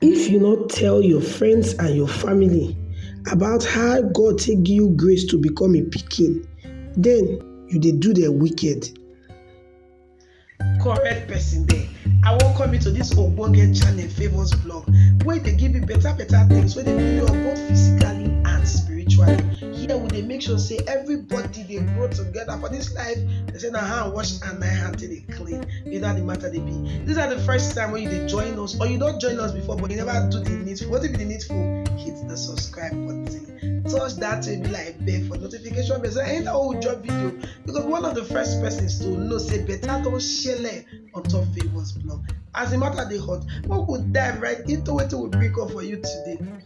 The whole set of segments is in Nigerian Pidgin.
If you no tell your friends and your family about how God take give you grace to become im pikin, den you dey do dem wicked. correct person there i welcome you to this ogbonge channel favours blog wey dey give you better better things wey dey build you up both physically and spiritually here we dey make sure say everybody dey grow together for this life they say na hand wash and na hand take dey clean you know how the matter dey be this na the first time wey you dey join us or you don join us before but you never do the needful wetin be the needful hit the subscribe button touch that baby like bell for notification bell so anytime wey we drop video you go be one of the first persons to know say better don shele on top favours blog as the matter dey hot make we dive right into wetin we bring come for you today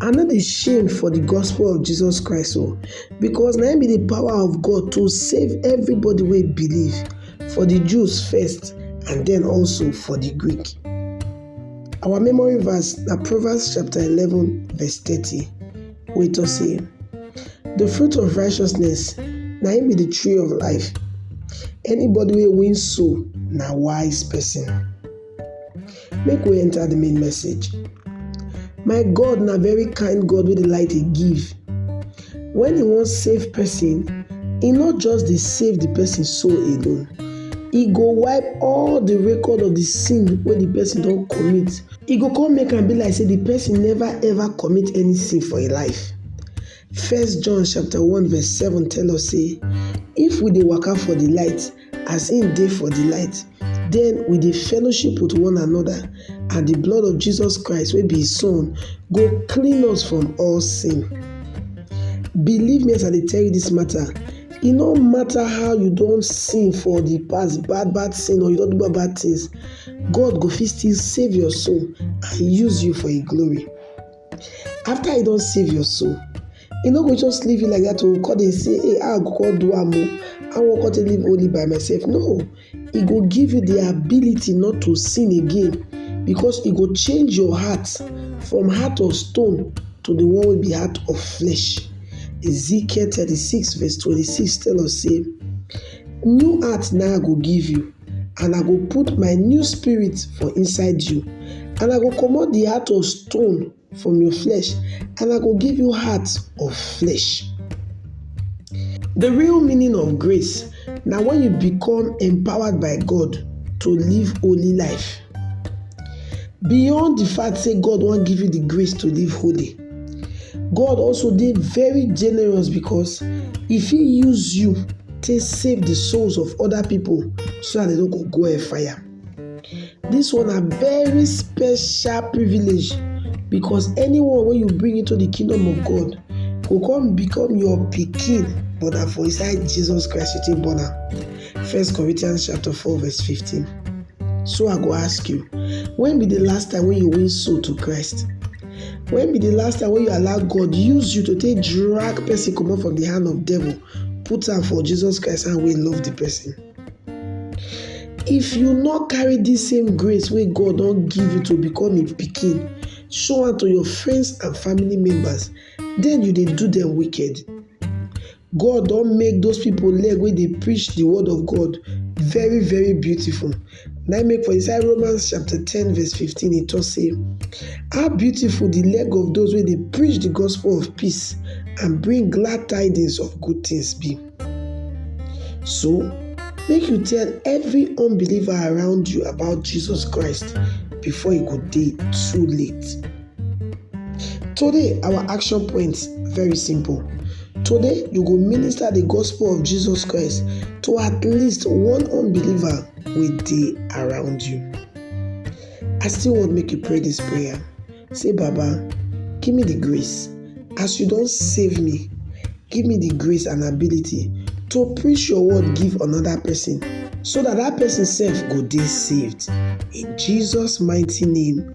I no dey shame for the gospel of Jesus Christ o, because na im be the power of God to save everybody wey believe, for the Jews first and then also for the Greek. Our memory verse na Proverbs chapter 11 verse 30 wey talk say, The fruit of righteousness na im be the tree of life, anybody wey win soul na wise person. Make we enter the main message. My God na very kind God wey dey like dey give. When e wan save person, e no just dey save the person soul alone. E go wipe all the record of the sin wey the person don commit. E go come make am be like say the person never ever commit any sin for im life. First John chapter one verse seven tell us say if we dey waka for the light as im dey for di light, den we dey fellowship wit one anoda, and di blood of Jesus Christ wey be his son go clean us from all sin. Believe me as I dey tell you dis mata, e no mata how you don sin for di past, bad bad sin or you don do bad bad tins, God go fit still save your soul and use you for im glory. after e don save your soul e no go just leave you like that o oh, come dey say hey how i go come do am o i wan come take live only by myself no e go give you the ability not to sin again because e go change your heart from heart of stone to the one wey be heart of flesh ezekiel thirty-six verse twenty-six tell us say new heart na i go give you and I go put my new spirit for inside you, and I go comot the heart of stone from your flesh, and I go give you heart of flesh. The real meaning of grace na when you become empowered by God to live holy life. Beyond the fact say God wan give you the grace to live holy, God also dey very generous because He fit use you take save the souls of other people so that they no go go hellfire. This one na very special privilege because anyone wey you bring into the kingdom of God go come become your pikin but na for inside Jesus Christ you take born am. First Corinthians chapter 4 verse 15. So I go ask you, when be the last time when you win soul to Christ? When be the last time when you allow God use you to take drag person comot from the hand of devil, put am for Jesus Christ and we love the person? If you not carry this same grace wey God don give you to become a pikin, show am to your friends and family members, then you dey do them wicked. God don make those people leg wey dey preach the word of God very very beautiful. Na im make for inside Romans chapter ten verse fifteen e talk say, How beautiful the leg of those wey dey preach the gospel of peace and bring glad tidings of good things be. So, make you tell every unbeliever around you about Jesus Christ before e go dey too late. Today, our action points very simple. Today, you go minister the gospel of Jesus Christ to at least one unbeliever wey dey around you. I still wan make you pray this prayer. Say, Baba, give me the grace. As you don save me, give me the grace and ability to preach your word give another person so that that person sef go dey saved. In Jesus mighty name.